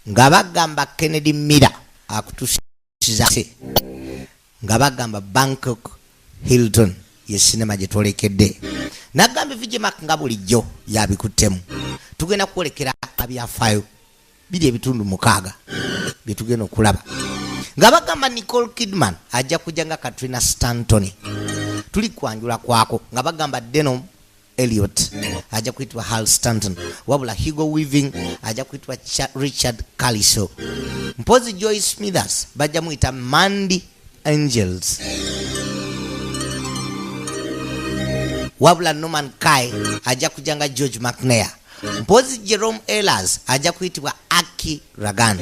nga bagamba kennedy mira akutusizase nga bagamba bangkok hilton ye sinema gye twolekedde nagamba evigemak nga bulijjo yabikuttemu tugenda kwolekera abyafaayo biri ebitundu mukaaga bye tugenda okulaba nga bagamba nicole kidman ajja kujja nga katrina stantony tuli kwanjula kwako nga bagamba denom Elliot ajja kuyitibwa Hal Stanton, wabula Hugo Weaving ajja kuyitibwa Richard Kaliso. Mpozi Joy Smithers bajja muyita Mandy Angels. wabula norman kai ajja kujja nga george mcnair mpozi jerome elas ajja kuyitibwa aki ragan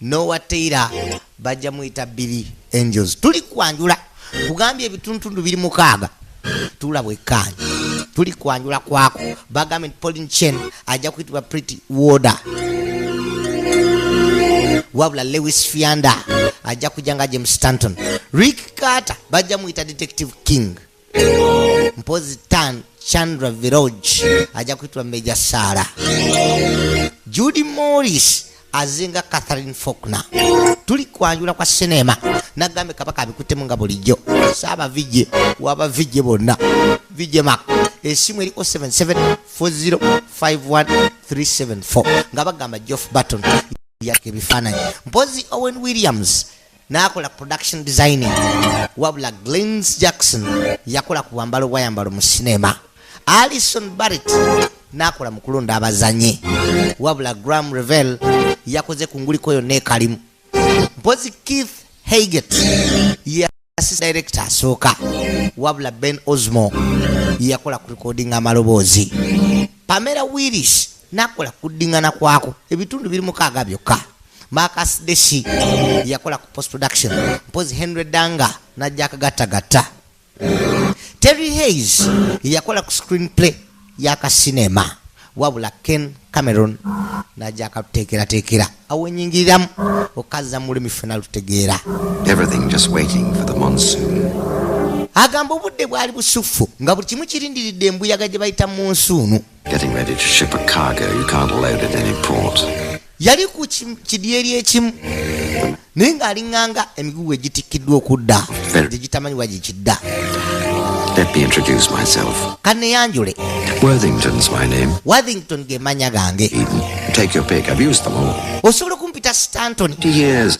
nowa teira bajja muyita billy angels tuli kwanjula kugambye ebituntundu biri mukaaga tuula bwekkaanya tuli kwanjula kwako bagambye nti polin chen ajja kuyitibwa pretty water wabula lewis fianda ajja kujja nga james stanton rick carter bajja muyita detective king mpozi tan chandra viroj ajja kuyitibwa major sara judy morris azinga catherine faulkner tuli kwanjula kwa sineema nagambe kabaka abikutemu nga bulijjo saaba vije waba vije bonna vije mak esimu eriko 77405134 nga bagamba geoff barton yaka ebifaananyi mpozi owen williams n'akola production designing wabula glens jackson yakola ku bwambalo bwayambalo mu sinema alison barrett n'akola mu kulonda abazanyi wabula gram revel yakoze ku nguliko yonna ekalimu mpozi keith haget yasisi director asooka wabula ben osmo yakola ku recording amaloboozi pamela willis n'akola kuddingana kwako ebitundu biri mukaaga byokka Marcus Deshi yakola ku post production mpozi Henry Danga na Jack Gata Gata Terry Hayes yakola ku screen play ya ka cinema wabula Ken Cameron na Jack tekera tekera awenyingiramu okaza muli mifuna lutegeera everything just waiting for the monsoon agamba obudde bwali busuffu nga buli kimu kirindiridde embuyaga gye bayita munsuunu yali ku kidyeri ekimu naye ng'alinganga emigugu egitikkiddwa okudda gye gitamanyi wa gye kidda Let me introduce myself. Kaneyanjule. Worthington's my name. Worthington ge manya gange. Take your pick. I've used them all. Osobola kumpita Stanton. Years.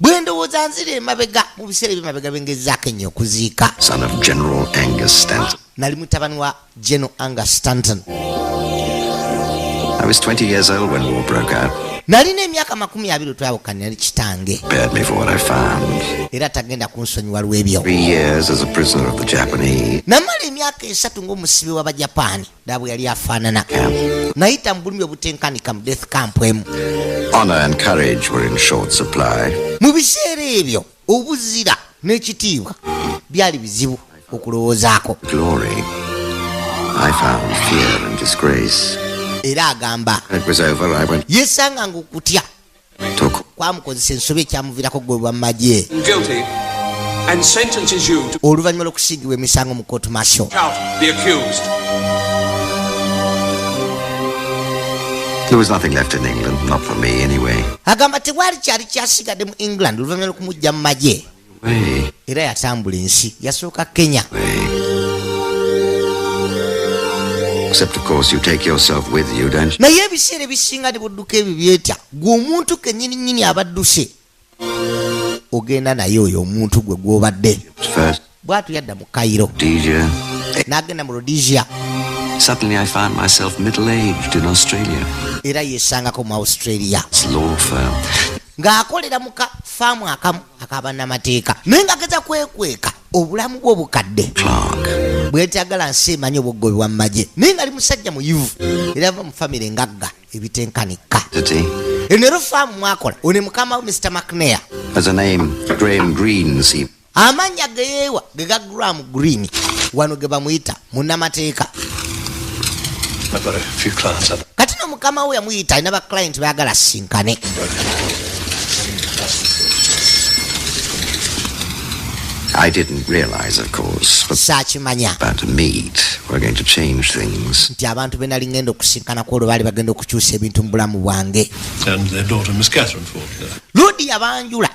bwe ndowooza nzira emabega mu biseera ebyemabega bengezaako ennyo okuziika nali mutabani wa general anger stanton nalina emyaka makumi abiri twawukana yali kitange era tagenda kunsonyiwa lw'ebyo namala emyaka esatu ng'omusibe w'abajapaani daabu yali afaanana nayita mu bulumi obutenkanika mu death camp emu mu biseera ebyo obuzira n'ekitiibwa byali bizibu okulowoozaako era agamba yesanga nga okutya kwamukozesa ensobi ekyamuvirako gwe bwa magye oluvannyuma lw'okusiigibwa emisango mu kootu masho agamba tewali kyali kyasigadde mu england oluvannyuma lw'okumujja mu magye era yatambula ensi yasooka kenya naye ebiseera ebisinga ne budduka ebyo byetya gwe omuntu kenyininyini abadduse ogenda naye oyo omuntu gwe gwobadde bwatu yadda mu kairo n'agenda mu rhodesia Suddenly I found myself middle-aged in Australia. Era yesangako mu Australia. It's law firm. Ng'akolera mu ka faamu akamu. akabanamateeka naye nga geza kwekweka obulamu bwo bukadde bwetagala nsi emanyi obuggobi bwa mumagye naye nga ali musajja muyivu era ava mu famire ngagga ebitenkanika enero faamu mwakola one mukama wo mr macnea amannya geyeewa gega gram green wano ge bamuyita munamateeka kati no mukama we yamuyita alina baclient bagala sinkane I didn't realize, of course, but Sakimanya. But to meet, we're going to change things. Nti abantu bena lingendo kusinkana kwa lubali bagendo kuchuse bintu mbulamu wange. And their daughter, Miss Catherine Faulkner. Ludi yabanjula.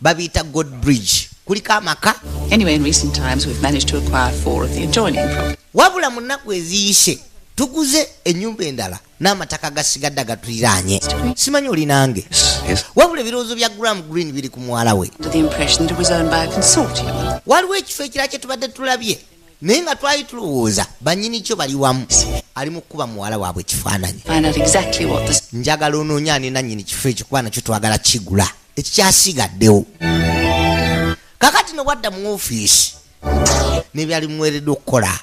babiyita god bridge kuliko amaka anyway, in recent times we've managed to acquire four of the adjoining property. wabula mu nnaku eziyise tuguze ennyumba endala n'amataka gasigadde agatuliraanye simanyi oli nange wabula ebirowoozo bya gram green biri ku muwala we waliwo ekifo ekira kye tubadde tulabye naye nga twali tulowooza banyini kyo bali wamu ali mu kukuba muwala waabwe ekifaananyi njagala onoonya ani nannyini kifo ekyo kuba nakyo twagala kigula ekikyasigaddewo kakati no bwadda mu ofiisi nebyali muweereddwa okukola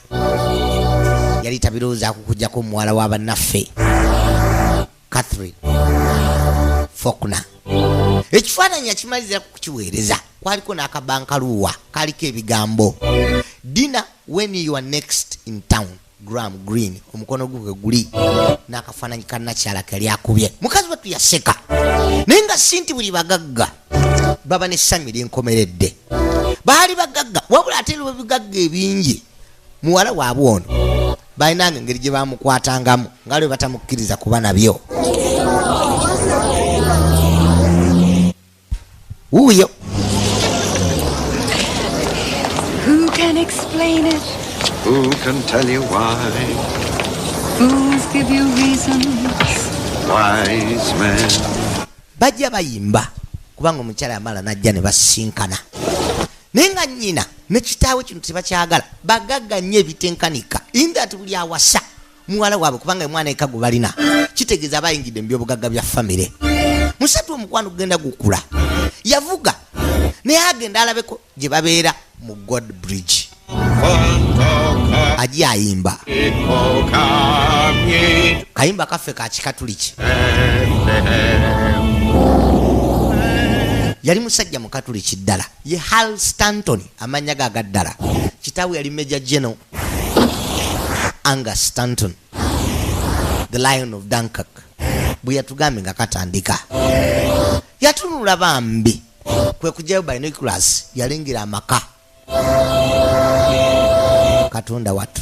yali tabirowooza kukujjako omuwala wa bannaffe catherine fokna ekifaananyi yakimalizira ku kukiweereza kwaliko n'akabankaluuwa kaliko ebigambo dina when you are next in town gram green omukono gwe bwe guli n'akafaananyi ka nakyala kali akubye mukazi wattu yaseka naye nga si nti buli bagagga baba n'essanyu ery'enkomeredde baali bagagga wabula ate lwe bigagga ebingi muwala waabwe ono balinanga engeri gye bamukwatangamu nga lwe batamukkiriza kuba nabyo wuuyo Who can explain it? Who can tell you why? Fools give you reasons. Wise men. Bajja bayimba kubanga omukyala yamala najja ne basinkana naye nga nnyina ne kitaawe kino tebakyagala bagagga nnyo ebitenkanika indat buli awasa muwala waabwe kubanga omwana eka gwe balina kitegeeza aba ayingidde mu byobugagga bya famire musatu omukwano gugenda gukula yavuga naye agenda alabeko gye babeera mu god bridge aji ayimba kayimba kaffe ka kikatuliki yali musajja mukatuliki ddala ye hal stanton amannya ge agaddala kitaawe yali major general anga stanton the lion of dunkak bwe yatugambye nga katandika yatunula bambi kwe kujayo binoculars yalengera amaka katonda watu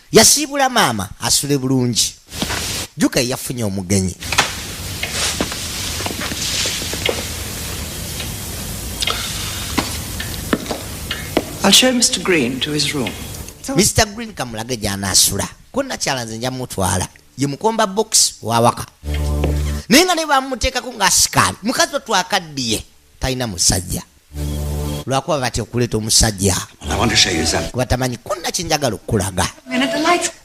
yasiibula maama asule bulungi juka yafunye omugenyi I'll show Mr. Green to his room. Mr. Green kamulage gyanasula ko nakyala nze nja mutwala ye mukomba box wawaka naye nga ne bamuteekako ng'asikaali mukazi wetwakaddiye talina musajja lwakuba batya okuleeta omusajja kuba tamanyi konna kyenjagala okukulaga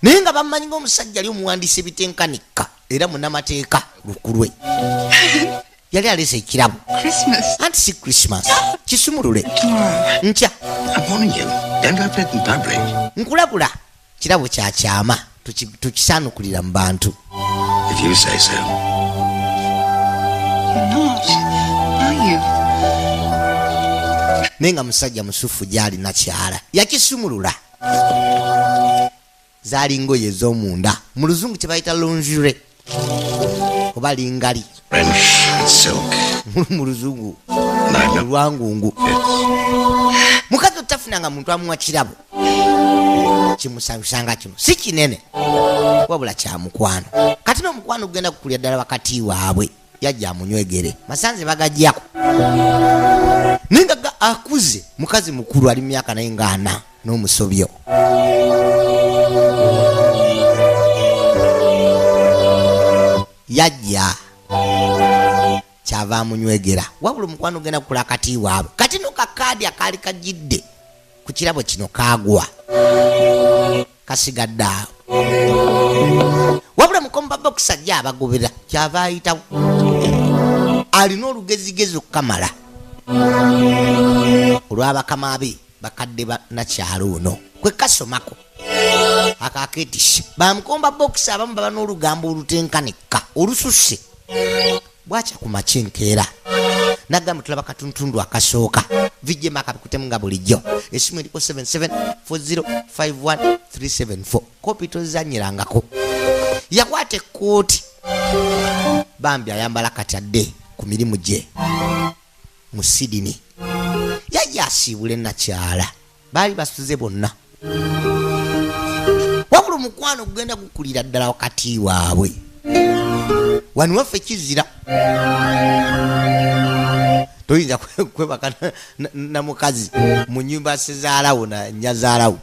naye nga bamanyi ngaomusajja ali omuwandiisa ebitenkanika era munamateeka lukulwe yali alese ekirabo anti si christmas kisumulule nkya nkulabula kirabo kya kyama tukisaanukulira mu bantu naye nga musajja musufu gyali nakyala yakisumulula zaali ngoye ez'omunda mu luzungu kyebayita longure oba lingali mu luzungu olwangungu mukazi otafuna nga muntu amuwa kirabo kimusanyusa nga kino si kinene wabula kyamukwano kati nomukwano gugenda kukulira ddala wakati waabwe yajja amunywegere masanze bagajjako naye nga akuze mukazi mukulu ali mumyaka naye nga ana n'omusobyo yajja kyava amunywegera wabula omukwano ogenda kukula akati waabwe kati no kakaadi akaali kajidde ku kirabo kino kaagwa kasigadde awo wabula mukombaba okusajja abagobera kyava ayitawo alina olugezigezi okukamala olwabakama be bakadde banakyalo ono kwekasomako akaketisha bamukomba bokisi abamu baba n'olugambo olutenkanika olususse bwakya ku makya enkeera nagamba tulaba katuntundu akasooka vijema akabikutemu nga bulijjo esimu eriko 77405137 kopi tozanyirangako yakwata ekkooti bambi ayambala kati adde ku mirimu gye mu sidini yajja asiibule nakyala baali basuze bonna wabula omukwano gugenda gukulira ddala wakati waabwe wani waffe kizira toyinza kwebaka na mukazi mu nyumba sizaalawo na nyazaalawo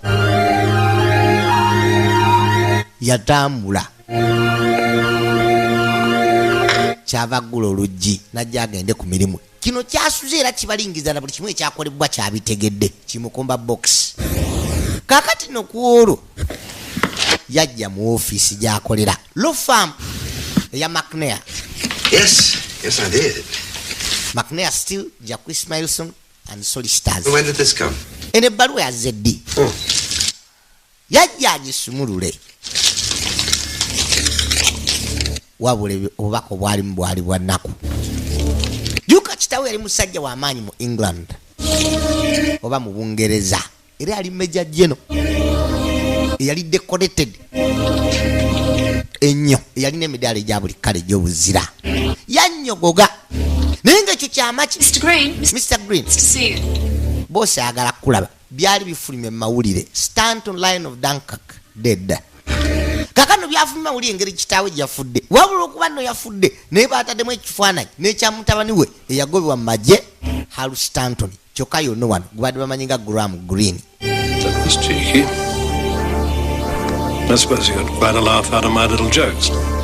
yatambula kyava gula oluggi najja agende ku mirimu kino kyasuze era kibalingiza na buli kimu ekyakolebwa kyabitegedde kimukumba box kakati no kwolwo yajja mu ofiisi gyakolera lofam eya macnea yes, yes, macnea still jacquis milson and solicitors eno ebbaluwa yazze ddi oh. yajja agisumulule wabula obubaka obwalimu bwali bwa nnaku juka kitawe yali musajja w'amaanyi mu england oba mu bungereza era yali meja jeno eyali decorated ennyo eyalina emidaala egya buli kkale egy'obuzira yannyogoga naye ngaekyo kyamaki mr green boosi ayagala kukulaba Byali bifulumye mu mawulire stunt on line of Dunkirk dead. Kakano byafulumye mawulire engeri kitaawe gyafudde. Wabula okuba no yafudde naye baataddemu ekifaananyi n'ekya mutabani we eyagobebwa mu magye Halu Stanton kyokka yonna wano gubadde bamanyi nga Graham Green.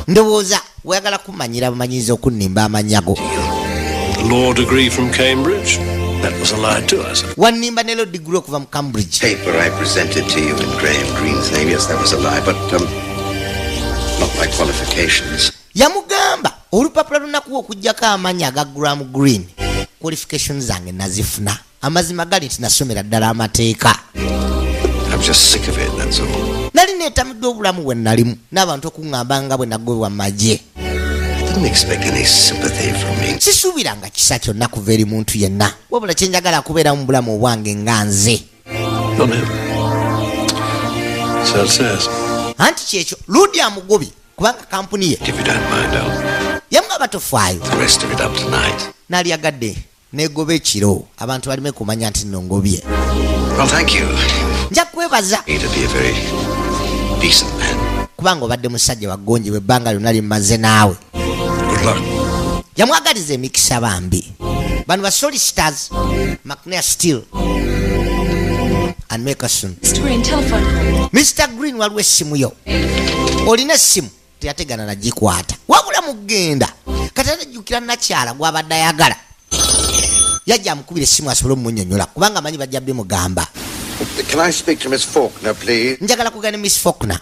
Ndowooza Oyagala kumanyira bumanyiriza okunnimba amannya go. Law degree from Cambridge. That was a lie to us. Wannimba ne law degree okuva mu Cambridge. Paper I presented to you in Graham Green's name. Yes, that was a lie, but um, not my qualifications. Yamugamba olupapula lunakuwa okujjako amannya aga Graham Green. Qualifications zange nazifuna. amazima gali nti nasomera ddala amateeka nali netamidde obulamu bwe nalimu n'abantu okuŋŋamba nga bwe nagobwa mu magye sisuubiranga kisa kyonna kuva eri muntu yenna wabula kyenjagala kubeera mu bulamu obwange nga nze anti kyekyo ludi amugobi kubanga kampuni ye yamu abatofaayo nalyagadde negoba ekiro abantu balime kumanya nti no ngobye nja kwebaza kubanga obadde musajja wagonjebwa ebbanga lyonna limaze naawe yamwagaliza emikisa bambi bano basolisters macnea steel and makerson mr green waliwo essimu yo olina essimu teyategana nagikwata wabula mugenda kati atajjukira nakyala gwabadde ayagala yajja amukubira essimu asobole omunyonyola kubanga amanyi bajja bimugamba njagala kugana ne miss faulkner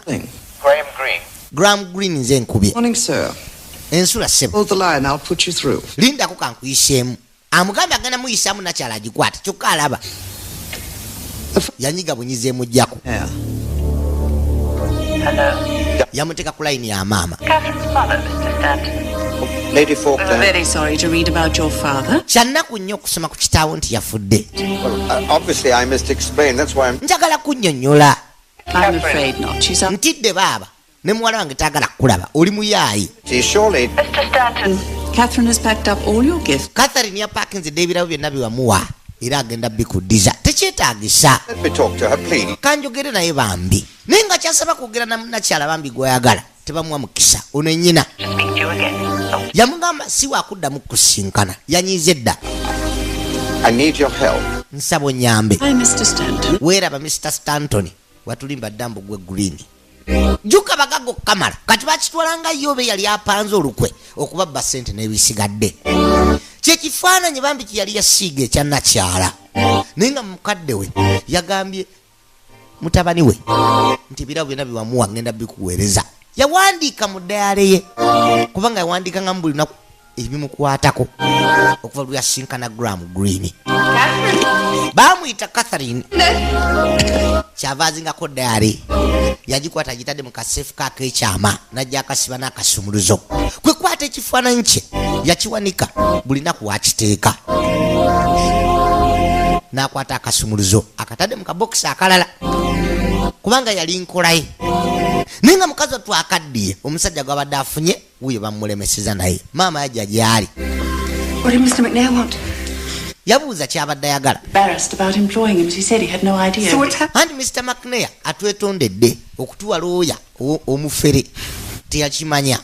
gram green nze nkubye ensula sebo lindako kankuyiseemu amugambe agenda muyisamu nakyala agikwata kyokka alaba yanyiga bunyiza emujjako yamuteeka ku layini ya maama kyannaku nnyo okusoma ku kitaawo nti yafudde uh, njagala kunnyonnyola ntidde baaba ne muwala wange tayagala kukulaba oli muyaayi catherine yapakinze dde ebirabo byonna byewamuwa era agenda bikuddiza tekyetagisa kanjogere naye bambi naye nga kyasaba kwogera nakyala bambi gweyagala tebamuwa mukisa ono enyina yamugamba siwakuddamu kusinkana yanyiiza edda nsaba onyambe weeraba mr stanton watulimba dda mbu gwe green jjuka bagaga okukamala kati bakitwalanga ye oba eyali apanze olukwe okubabba ssente n'ebisigadde kyekifaananyi bambi kyeyali yasiiga ekyanakyala naye nga mukadde we yagambye mutabani we nti ebirabo byonna byewamuwa ngenda bikuweereza yawandiika mu dayale ye kubanga yawandiikanga mu buli lunaku ebimukwatako okuva lweyasinkana gram green bamuyita catherine kyava azingako daali yagikwata agitadde mu kaseefu kakekyama najja akasiba n'akasumuluzo kwekwata ekifaananyi kye yakiwanika buli naku wakiteeka n'akwata akasumuluzo akatadde mu kabokisi akalala kubanga yali nkolaye naye nga mukazi watwakaddiye omusajja gwabadde afunye wuyo bamulemeseza naye maama yajja gyali yabuuza kyabadde ayagala anti mr mcnair atwetondedde okutuwa looya omufere teyakimanya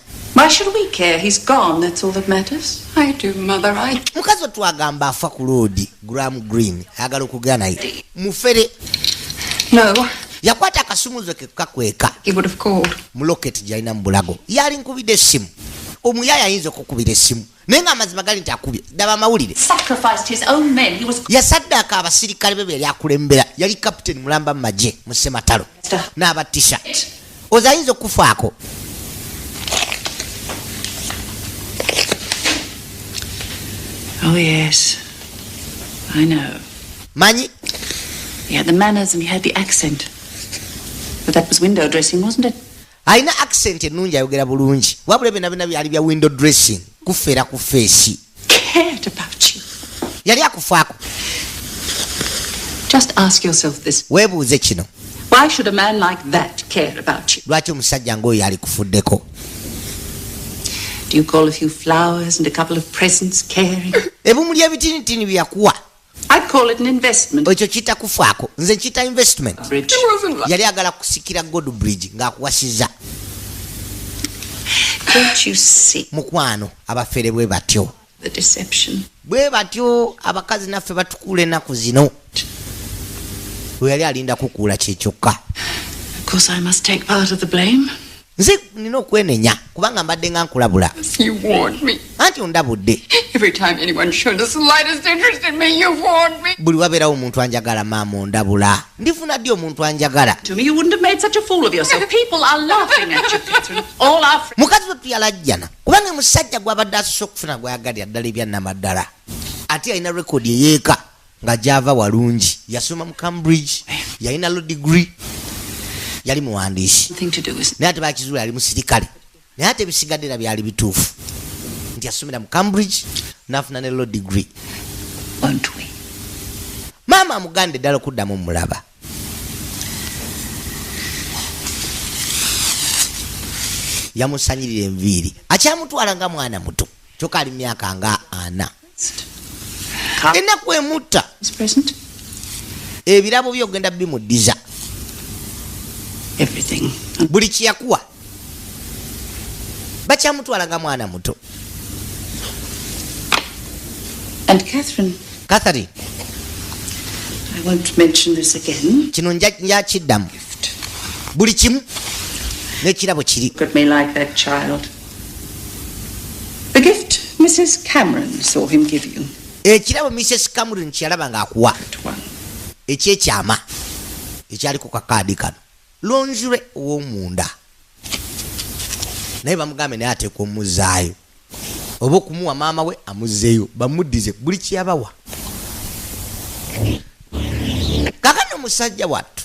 mukazi otwagamba afa ku loodi gram green ayagala okugera naye mufere no yakwata akasumuzo ke kukakweka muloketi gyalina mu bulago yali nkubidde essimu omuyaya ayinza okukubira essimu naye nga amazima gali nti akubye daba amawulire yasaddaaka abasirikale be beyali akulembera yali kapiteni mulamba mu magye mu sematalo n'abatisa oza ayinza okukufaako Oh yes, I know. Manyi? He had the manners and he had the accent. But that was window dressing, wasn't it? alina accent ennungi ayogera bulungi wabula byona byona byali bya window dressing kufeera ku feesi cared about you. Yali akufaako. Just ask yourself this. Webuuze kino. Why should a man like that care about you? Lwaki omusajja ng'oyo alikufuddeko? Do you call a few flowers and a couple of presents caring? Ebumuli ebitinitini byakuwa. I call it an investment. ekyo kiyita kufaako nze nkiyita investment Bridge. It wasn't like yali agala kusikira god bridge ng'akuwasiza Don't you see mukwano abafere bwe batyo the deception? bwe batyo abakazi naffe batukuula ennaku zino we yali alinda kukuula kye kyokka Of course, I must take part of the blame. nze nina okwenenya kubanga mbadde nga nkulabula anti ondabudde buli wabeerawo omuntu anjagala maama ondabula ndifuna ddi omuntu anjagala mukazi we tuyalajjana kubanga musajja gwabadde asosa okufuna gwayagalira ddala ebyannamaddala ate alina rekodi eyeeka nga gyava walungi yasoma mu cambridge yalina lo degree yali muwandiisi naye ate bakizuula yali musirikale naye ate ebisigadde era byali bituufu nti yasomera mu cambridge nafuna ne lo degree maama amugande ddala okuddamu mulaba yamusanyirira enviiri akyamutwala nga mwana muto kyoka ali myaka nga ana enaku emutta ebirabo byo ogenda bimuddiza buli kyeyakuwa bakyamutwala nga mwana muto catherine kino njakiddamu buli kimu nekirabo kiri The gift Mrs. Cameron saw him give you. ekirabo mrs cameron kyeyalaba ng'akuwa ekyekyama ekyali ku kakaadi kano lonzure ow'omunda naye bamugambe naye ateeka omuzaayo oba okumuwa maama we amuzzeeyo bamuddize buli kyeyabawa kakano omusajja wattu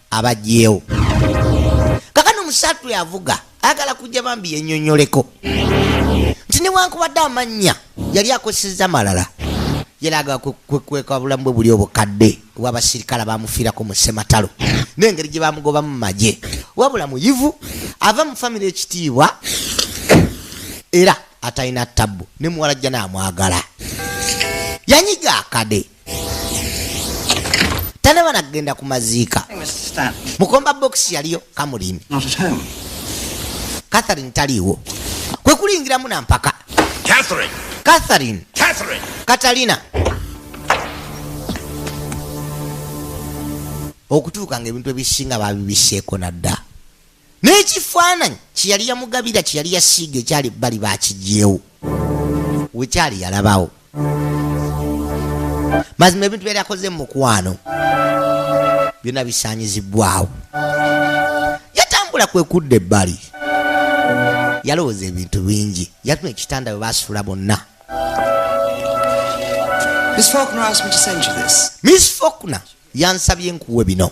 abagyewo kakano musatu yavuga ayagala kujja bambi yenyonyoleko nti newankubadde amannya yali akozeseza malala yalaga kwekweka bulamu bwe buli obukadde wabasirikale bamufiirako mu sematalo nengeri gye bamugobamu magye wabula muyivu ava mu famire ekitiibwa era atalina tabbu ne muwala jjana amwagala yanyiga akade tanaba nagenda ku maziika mukomba bokisi yaliyo kamuliimi catherine taliiwo kwe kulingiramu na mpaka catherine katalina okutuuka nga ebintu ebisinga babibiseeko nadda n'ekifaananyi kyeyali yamugabira kyeyali yasiiga ekyali bali bakigyewo wekyali yalabawo mazima ebintu byali akoze mu mukwano byonna bisaanyizibwawo yatambula kwe kudda ebbali yalowooza ebintu bingi yatuma ekitanda bwe basuula bonna miss fokna yansabye nkuwe bino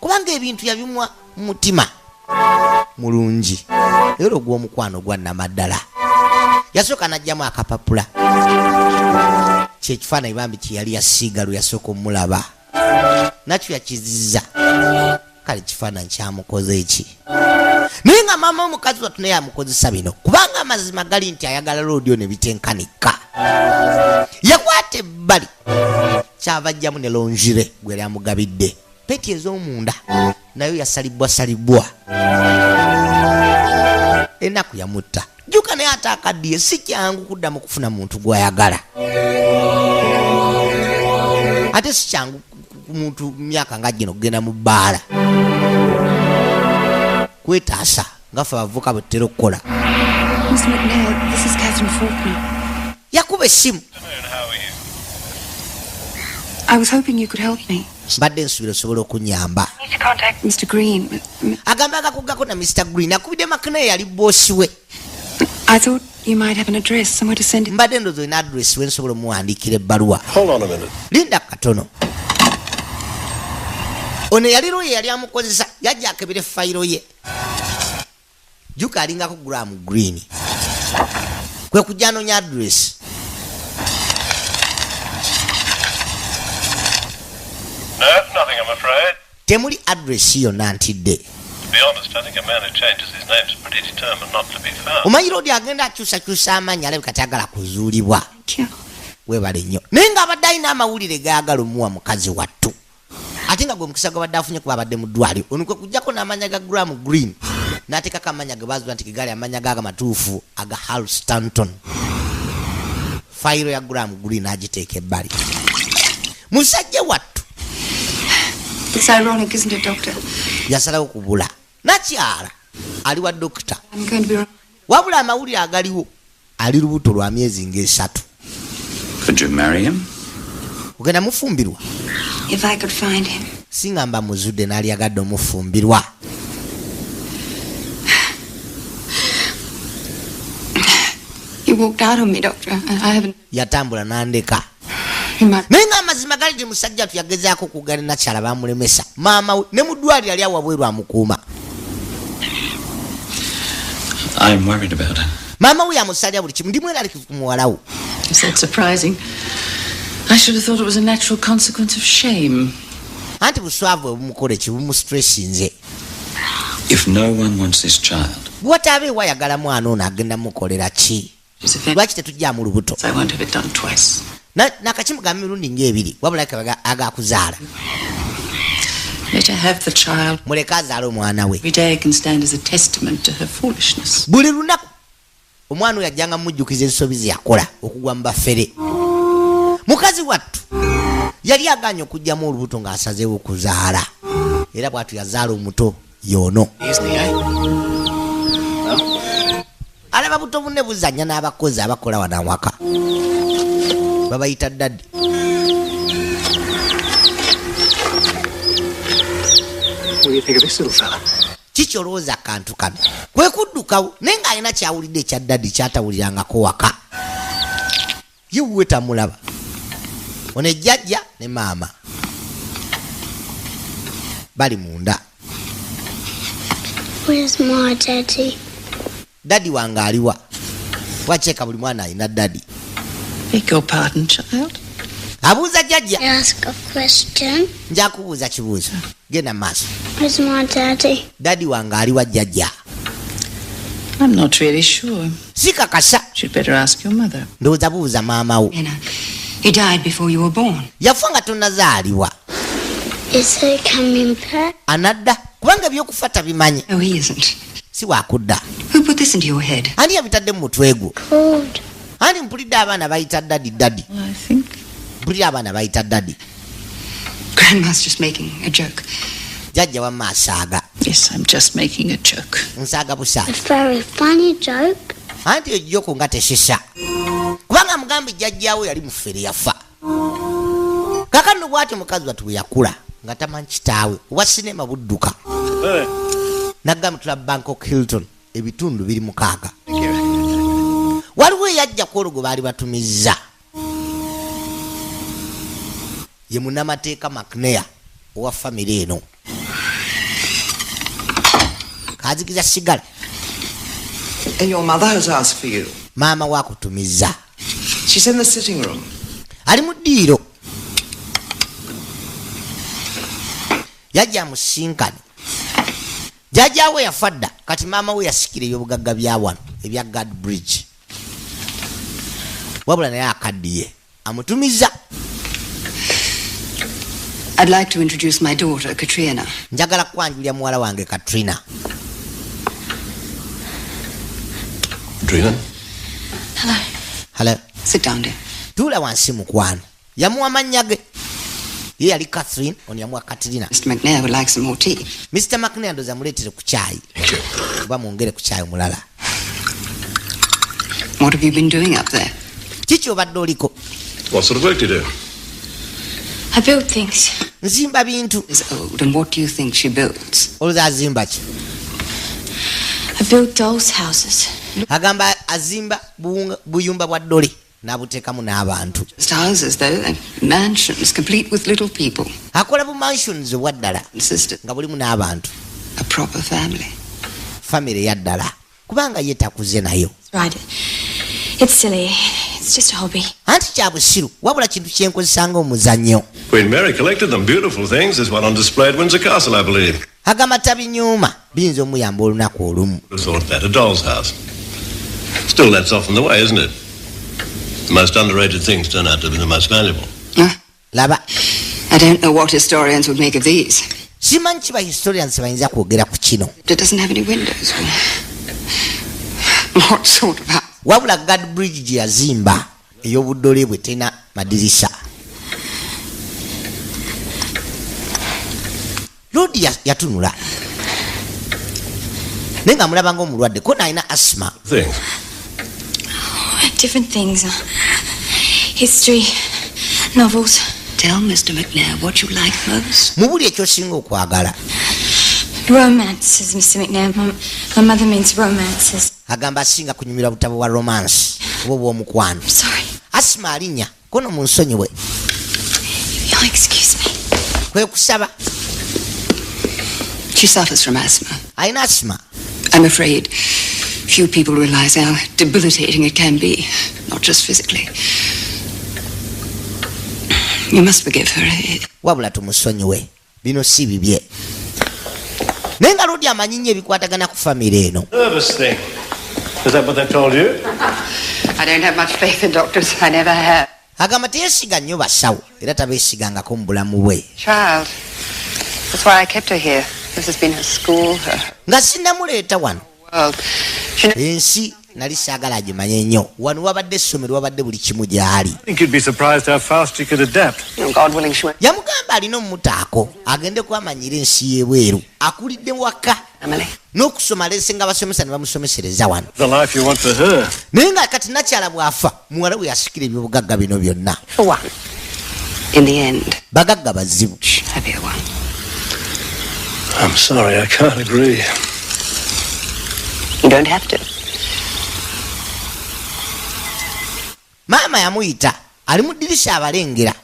kubanga ebintu yabimwa mutima mulungi era ogw'omukwano gwa namaddala yasooka najjamu akapapula kyekifaananyi bambi kyeyali yasiiga lwe yasooka omulaba nakyo yakiziza kale kifaananyi kyamukoze eki naye nga maama omukazi watu naye amukozesa bino kubanga amazima gali nti ayagala lodio ne bitenkanika yakwata ebbali kyava ajjamu ne longire gwe yali amugabidde peti ez'omunda nayo yasalibbwa salibbwa enaku yamutta jjuka naye ate akaddiye si kyangu kuddamu kufuna muntu gwayagala ate si kyangu ku muntu myaka nga gino kugenda mu bbaala kwetaasa nga fe abavuka bwe tutera okukola yakuba essimu mbadde nsubira osobola okunyamba agamba agakuggako na mr green akubidde makina eyali boosi we mbadde ndozi olina adress we nsobola omuwandiikira ebbaluwa linda katono ono yali luye yali amukozesa yajja akebere fayiro ye juka alingako gram green kwe kujja anonya adress temuli adress yonna ntidde omanyira odi agenda akyusakyusa amaanyi alabika tayagala kuzuulibwa webale nnyo naye nga abadde alina amawulire gayagala omuwa mukazi wattu ate nga gwe mukisa gwabadde afunye kuba abadde mu ddwaliro ono kwe kujjako n'amanya ga gram green n'ateekako amanya ge baazula nti gegaali amanya gaaga matuufu aga hal stanton fayiro ya gram green agiteeka ebbali musajja wattu yasalawo kubula nakyala ali wa dokita wabula amawulire agaliwo ali lubuto lwa myezi ngaesatu ogenda mufumbirwa singa mba muzudde nalyagadde omufumbirwa yatambula nandeka naye nga amazima gali ti musajja tu yagezaako kugana nakyala bamulemesa maama we ne mudwaliro ali awabweru amukuuma maama we yamusalira buli kimu ndimu eralikivu ku muwalawo anti buswavu ebumukola ekibumustressinze bwataba ewa yagala mwana ono agenda mukolera ki lwaki tetujjamu lubuto nakakimugamba mirundi ngaebiri wabula kabaga agakuzaala muleke azaala omwana we buli lunaku omwana oyo ajjanga mumujjukiza ensobi zeyakola okugwa mu bafere mukazi wattu yali aganye okugjamu olubuto ng'asazeewo okuzaala era bwatu yazaala omuto yoono alaba buto bunne buzanya n'abakozi abakola wano awaka babayita dadi kiki olowooza akantu kano kwe kuddukawo naye ng'alina kyawulidde ekya dadi kyatawulirangako waka ye wuwe tamulaba ono ejjajja ne maama bali munda dadi wange aliwa wakyeka buli mwana alina dadi abuuza jjajja njakubuuza kibuuzo genda maaso dadi wange ali wa jjajja sikakasa ndowooza buuza maama wo yafa nga tonazaalibwa anadda kubanga ebyokufa tabimanyi oh, si wakudda ani yabitadde mu mutwe gwo ani mpulidde abaana bayita dadi dadi mpulidde abaana bayita dadi Grandma's just making a joke. Jajja wa masaga. Yes, I'm just making a joke. Nsaga busa. A very funny joke. Anti yo joke nga tesisa. Kubanga mugambi jajja wo yali mufere yafa. Kaka ndo bwati mukazi watu yakula. Nga tamanyi kitawe. Wa cinema budduka. Hey. Eh. Nagamu tula Bangkok Hilton. Ebitundu biri mukaga. Waliwo yajja kworugo bali batumizza. ye munamateeka macnea owa famire eno kazikiza sigala maama wakutumiza ali mu ddiiro yajja musinkani jajawe yafa dda kati maama we yasikira ebyobugagga bya wano ebya gad bridge wabula naye akaddiye amutumiza I'd like to introduce my daughter, Katrina. Njagala kwanjulira muwala wange Katrina. Katrina? Hello. Hello. Sit down, dear. Tula wansi mukwano. yamuwa mannya ge ye yali catherine ono yamuwa katrina mr mcnair ndoza muleetere ku kyayi oba mwongere ku kyayi omulala kiki obadde oliko nzimba bintu olowooza azimba ki agamba azimba buyumba bwa dole nabutekamu n'abantu akola bu mansions obwaddala nga bulimu n'abantu famiry yaddala kubanga ye takuze nayo anti kya busiru wabula kintu kyenkozesanga omuzannyo agamba tabinyuuma biyinza omuyamba olunaku olumu hmm, laba I don't know what historians would make of these. Simanyi kiba historians bayinza kwogera ku kino. It doesn't have any windows. What sort of house? Wabula Gad Bridge gye yazimba. eyobuddole bwe tena madirisa lodi yatunula naye nga mulaba nga omulwadde kona alina asma different things uh, history novels tell mr mcnair what you like most mubuli ekyosinga okwagala romances mr mcnair my mother means romances agamba asinga kunyumira butabo bwa romance oba obwomukwano asima alinya kono munsonyiwe kwekusaba She suffers from asthma. I'm asthma. I'm afraid few people realize how debilitating it can be, not just physically. You must forgive her. Wabula tumusonyiwe. bino si bibye naye nga lodi amanyi nnyo ebikwatagana ku famire eno agamba teyesiga nnyo basawo era tabeesigangako mu bulamu bwe nga sinamuleeta wano ensi nali saagala agimanye nnyo wano wabadde essomero wabadde buli kimu gyali yamugamba alina omumutaako agende kwamanyira ensi y'ebweru akulidde waka n'okusoma lese nga abasomesa ne bamusomesereza wano naye nga kati nakyala bw'afa muwala we yasikira ebyobugagga bino byonna bagagga bazibu I'm sorry, I can't agree. You don't have to. Mama yamuyita ali mu ddirisa abalengera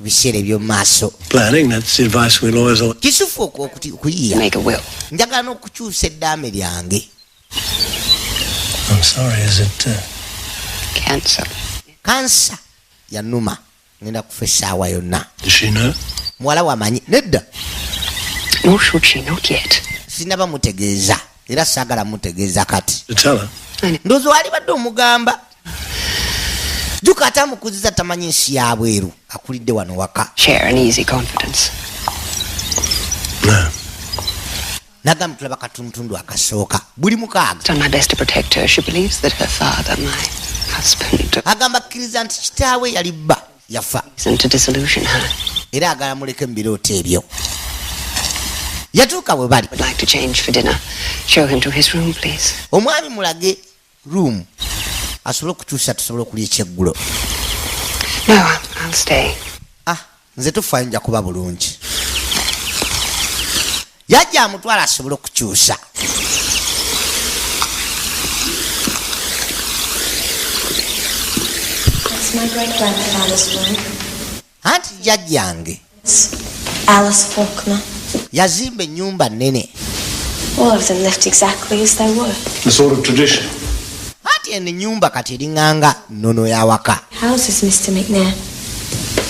biseera eby'omu maaso kisufu okuyiya njagala n'okukyusa eddaame lyange kansa uh, yanuma ngenda kufa essaawa yonna muwala wamanyi nedda sinaba mutegeeza era saagala mutegeeza kati ndoozi walibadde omugamba juka ate amukuziza tamanyi nsi yabweru akulidde wano waka nagamba tulaba katuntundu akasooka buli mukaaga agamba akkiriza nti kitaawe yali bba yafa era agala muleke mu birooto ebyo yatuuka bwe bali omwami mulage room asobole okukyusa tusobole okulya ekyeggulo ah nze tufayo nja kuba bulungi yajja amutwala asobole okukyusa anti jajjange yazimba ennyumba nnene anti eno ennyumba kati eringanga nnono y'awaka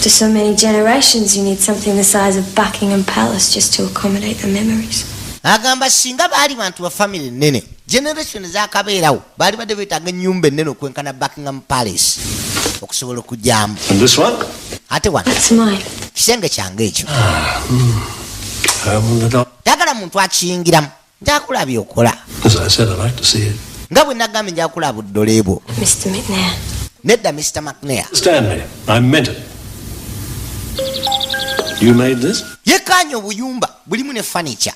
After so many generations, you need something the size of Buckingham Palace just to accommodate the memories. agamba singa baali bantu ba famire nene generation zakabeerawo baali badde beetaaga ennyumba ennene okwenkana buckingham palace okusobola okugyamu ate wano kisenge kyange ekyo ah, hmm. tagala muntu akiyingiramu njakula byokola nga bwe nagambye njakula buddole bwo nedda mr mcnair yekaanya obuyumba bulimu ne fanicha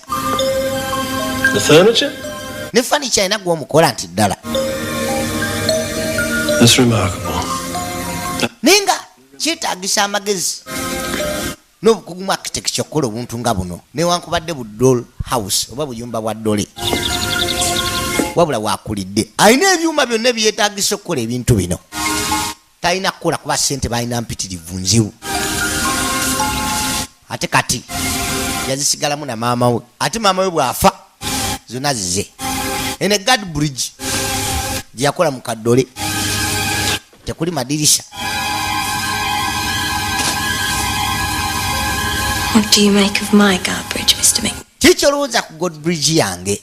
ne fanicha alina gwomukola nti ddala naye nga kyetagisa amagezi n'obukugu mu architecture okukola obuntu nga buno newankubadde bu doll house oba buyumba bwa dole wabula wakulidde alina ebyuma byonna ebyetagisa okukola ebintu bino talina kukola kuba sente balina mpitirivu nzibu ate kati yazisigalamu na maama we ate maama we bwafa zona zize ene gad bridge gyeyakola mu kaddole tekuli madirisha kiki olowooza ku god bridge yange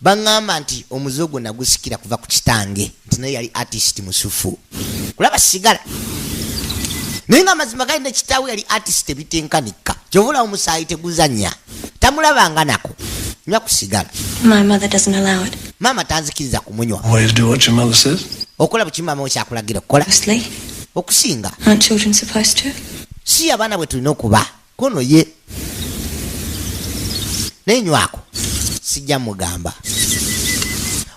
baŋŋamba nti omuze ogwo nagusikira kuva ku kitange nti naye yali artist musufu kulaba sigala naye nga amazima gali ne kitaawe yali artist ebitenkanika kyovula omusaayi teguzanya tamulabanga nako nywa ku sigala maama tanzikiriza kumunywa okola buki maama we kyakulagira okukola okusinga si abaana bwe tulina okuba kono ye naye nywako sijja mugamba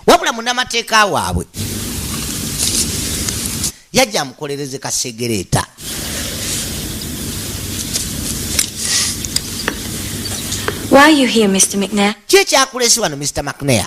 wabula munamateeka waabwe yajja amukolereze kasegereeta ki ekyakulesi wano mr mcnair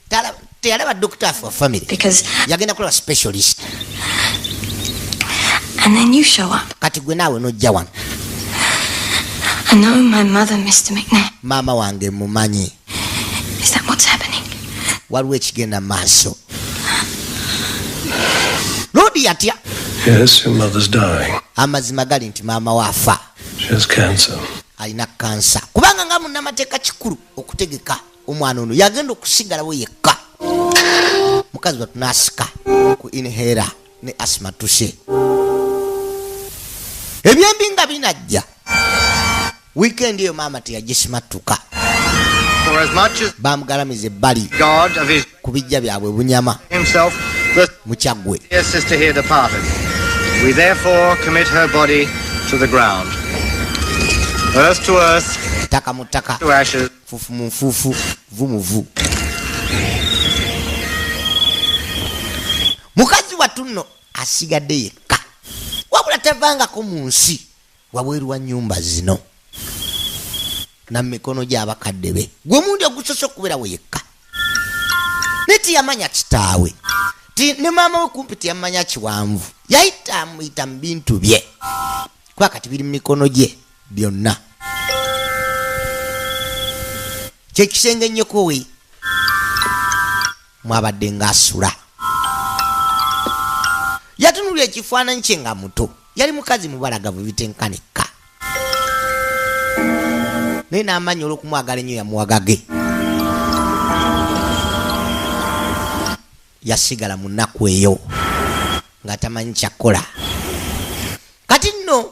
teyalaba dokita afe wa famiry yagenda kulaba specialist kati gwe naawe nojja wano maama wange mumanyi waliwo ekigenda maaso lodi yatya amazima gali nti maama waafa alina kansa kubanga nga munamateeka kikulu okutegeka omwana ono yagenda okusigalawo yekka mukazi batunasika ku inhera ne asima tuse ebyembi nga binajja wiikendi eyo maama teyagisimattuka bamugalamiza ebbali ku bijja byabwe bunyama mukyaggwe We therefore commit her body to the ground. Earth to earth. Taka mutaka. To ashes. Fufu mu nfuufu, vu mu vu. Mukazi wattu nno asigadde yekka, wabula tavangako mu nsi wabweru wa nnyumba zino na mikono gy'abakadde be, gwe mundi ogusose okubeerawo yekka. Naye teyamanya kitaawe ti ne maama we kumpi teyamanya kiwanvu, yayita amuyita mu bintu bye kuba kati biri mu mikono gye. byonna kyekisenge ennyokowe mwabadde ngaasula yatunulira ekifaananyi kye nga muto yali mukazi mubalagavu bitenkanikka naye n'amaanyi olw'okumwagala ennyo yamuwagage yasigala mu nnaku eyo nga tamanyi kyakkola kati nno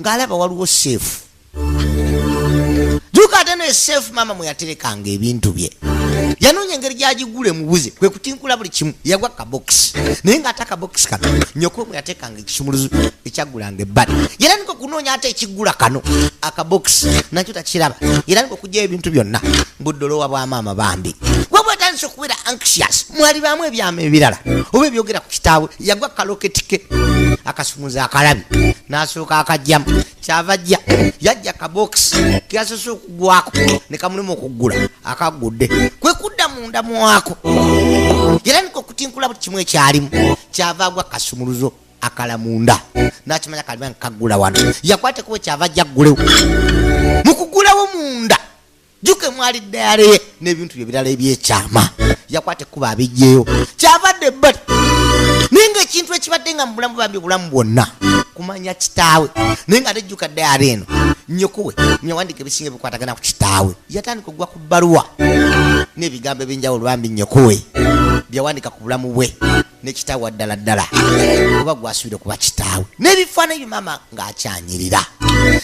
ng'alaba waliwo seefu juka ate naye seefu maama mwe yaterekanga ebintu bye yanoonya engeri gyagigula emubuze kwe kutinkula buli kimu yagwa kabokisi naye ng'ate akabokisi kano nyoko mwe yateekanga ekisumuluzo ekyagulanga ebbali era niko okunoonya ate ekigula kano akabokisi nakyo takiraba era niko okugyayo ebintu byonna buddolowa bwa maama bambi atandise okubeera anxious mwali baamu ebyama ebirala oba ebyogera ku kitaawe yagwa kaloketike akasumuza akalabi nasuuka akajjamu kyava ajja yajja kabokisi keyasose okugwako nekamulimu okuggula akaggudde kwekudda munda mwako era nika okutinkula buli kimu ekyalimu kyava agwa kasumuluzo akala munda nakimanya kaliba nkaggula wano yakwatekuba kyava ajja ggulewo mukugulawo munda jjuko emwali ddayale ye n'ebintu bye birala ebyekyama yakwata ekkuba abijjeyo kyavadde ebbali naye ngaekintu ekibadde nga mu bulamu bambi obulamu bwonna kumanya kitaawe naye nga tejjuka ddayale eno nyokowe nyawandika ebisinga ebikwatagana ku kitaawe yatandika okugwa ku bbaluwa n'ebigambo eby'enjawulo bambi nyokowe byawandika ku bulamu bwe ne kitaawe ddala ddala oba gwasuubire kuba kitaawe n'ebifaananyi bye maama ng'akyanyirira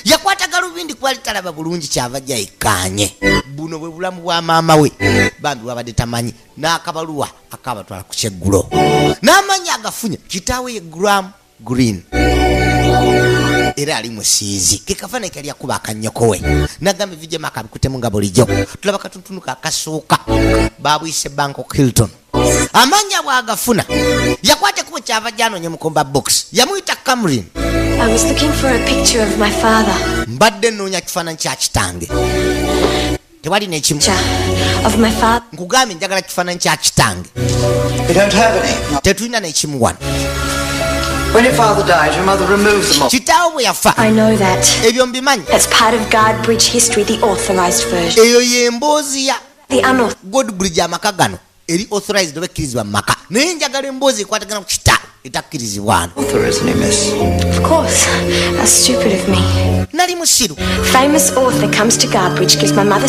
yakwata galubindi kuba litalaba bulungi kyava jayikkaanye buno bwe bulamu bwa maama we bambi wabadde tamanyi n'akabaluwa akabatwala ku kyeggulo n'amanyi agafunye kitaawe ye guramu green era ali musiizi kekafaananyi kali akuba akanyokowe nagamba evijemu akabikutemu nga bulijjo tulaba katuntunu kakasuuka babuyise banko hilton amaanyi abwe agafuna yakwata ekubo kyava gyanonye mukomba box yamuyita camrin mbadde nnoonya kifaananyi kya kitange tewali nekimu nkugambye njagala kifaananyi kya kitange tetulina nekimu wano kitaawo bwe yafa ebyo mbimanyi eyo y'emboozi ya godbridge amaka gano eri authorized oba ekkirizibwa mu maka naye njagala emboozi ekwatagana ku kita etakkirizibwano nali musiru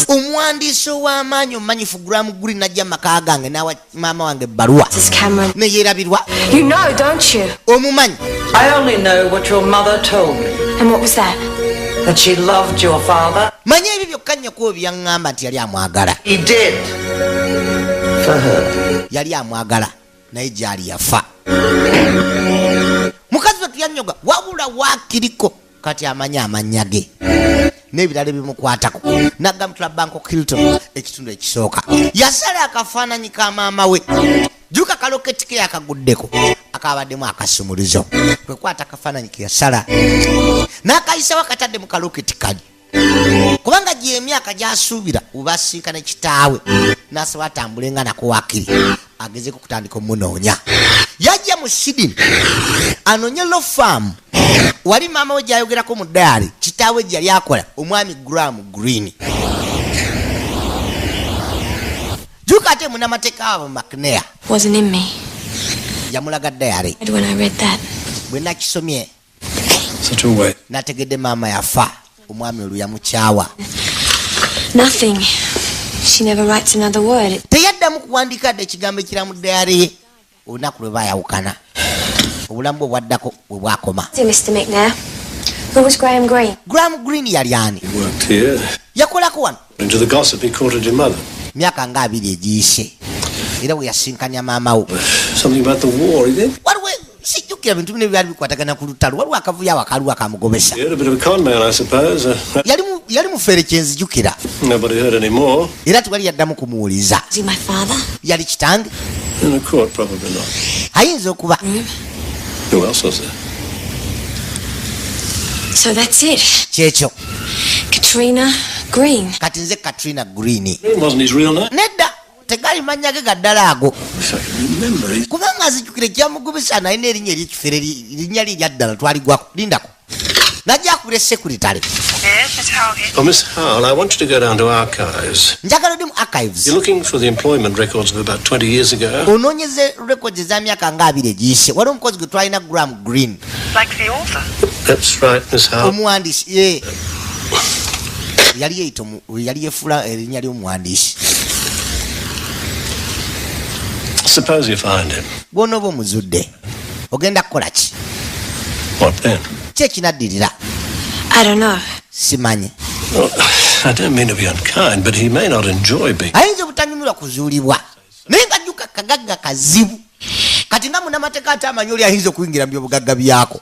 omwandiisi ow'amaanyi omumanyifu guramu guli najja maka gange nawa maama wange ebbaluwa neyerabirwa omumanyi manya ebyo byokka nnyoko byaŋŋamba nti yali amwagala yali amwagala naye gyali yafa mukazi we tuyanyoga wabula wakiriko kati amanyi amannya ge n'ebirala ebimukwatako nagamutula banko kilton ekitundu ekisooka yasala akafaananyi ka maama we juka kaloketike yakaguddeko akabaddemu akasumuluzo kwekwata akafaananyi ke yasala n'akayisawo akatadde mu kaloketi kali kubanga gyemyaka gyasuubira ubasinkana kitaawe nasaba atambule nga nakuwakiri agezeko kutandika omunoonya yajja mu sidini anoonye lofaamu wali maama we gyayogerako mu daali kitaawe gyeyali akola omwami gramu green juka ate munamateeka wabo macnea yamulaga dayari bwe nakisomye nategedde maama yafa omwami olwo yamukyawa teyaddamu kuwandiika dde ekigambo ekiramu dayare ye olunaku lwe bayawukana obulamu bwe bwaddako bwe bwakoma gram green yali ani yakolako wano myaka nga abiri egiyise era we yasinkanya maama wo sijjukira bintu bino byali bikwatagana ku lutalo waliwo akavuyo awo akaliwo akamugobesa uh, yali mufere kyenzijukira era tewali yaddamu kumuwuliza yali kitange ayinza okuba Who else was there? So that's it. Checho. Katrina Green. Kati nze Katrina Green. Green wasn't his real name. Nedda. tegali mannya ge gaddala ago kubanga azijukire kyamugubisa naye nerinnya eryekifere linnya lye lyaddala twaligwako lindako najjakubira esekuritale njagala odi mu archivesonoonyeza records eza myaka nga abiri egiyise waliwo omukozi gwe twalina gram green omuwandiisi ye yali yeyita yali yefula erinnya lyomuwandiisi bwonooba omuzudde ogenda kukola ki ki ekinaddirira simanyi ayinza obutanyumirwa kuzuulibwa naye nga jjuka kagagga kazibu kati nga munamateeka ate amanyi oli ayinza okuyingira mu byobugagga byako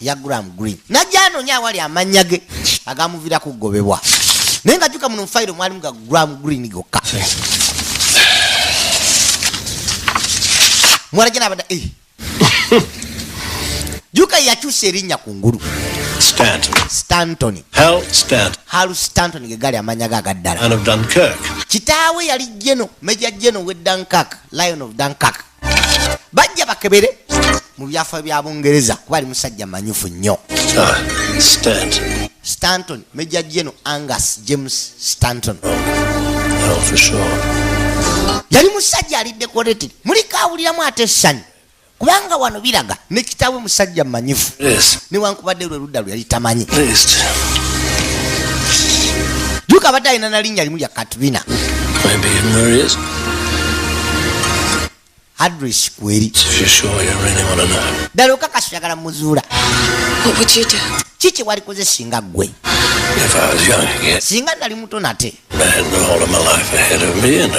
yagram green najja anonya awali amannya ge agamuvira kugobebwa naye nga juka muno mufayiro mwalimu ga gram green gokka mwalaja nabada eh. juka yakyusa erinnya ku ngulu stantonstanton gegali amanya ga agaddala kitaawe yali geno meja geno we dunkak lion of dunkak bajja bakebere mu byafayo bya bungereza kuba ali musajja manyufu nnyo ah, stanton major general angus james stanton oh, yali musajja ali decorated muliko awuliramu ate essanyu kubanga wano biraga ne kitaawe musajja manyifu newankubadde oludda lwe yali tamanyi juka abadde alina nalinnya limu lya katrina adres kweri ddala okakasi oyagala muzuula kiki walikoze singa ggwe singa nali muto nate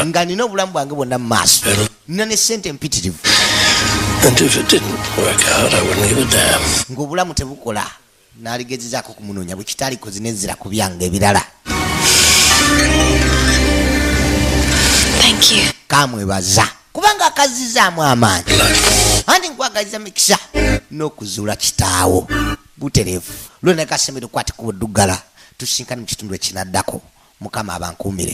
nga nina obulamu bwange bwonna mu maaso nina ne sente mpitirivu ng'obulamu tebukola naligezezaako okumunoonya bwe kitaliko zinezira ku byange ebirala kamwebaza kubanga akazizaamu amaanyi anti nkwagaliza mikisa n'okuzuula kitaawo butereevu lwona kasemere okwatikuba oddugala tusinkani mu kitundu ekinaddako mukama abankuumire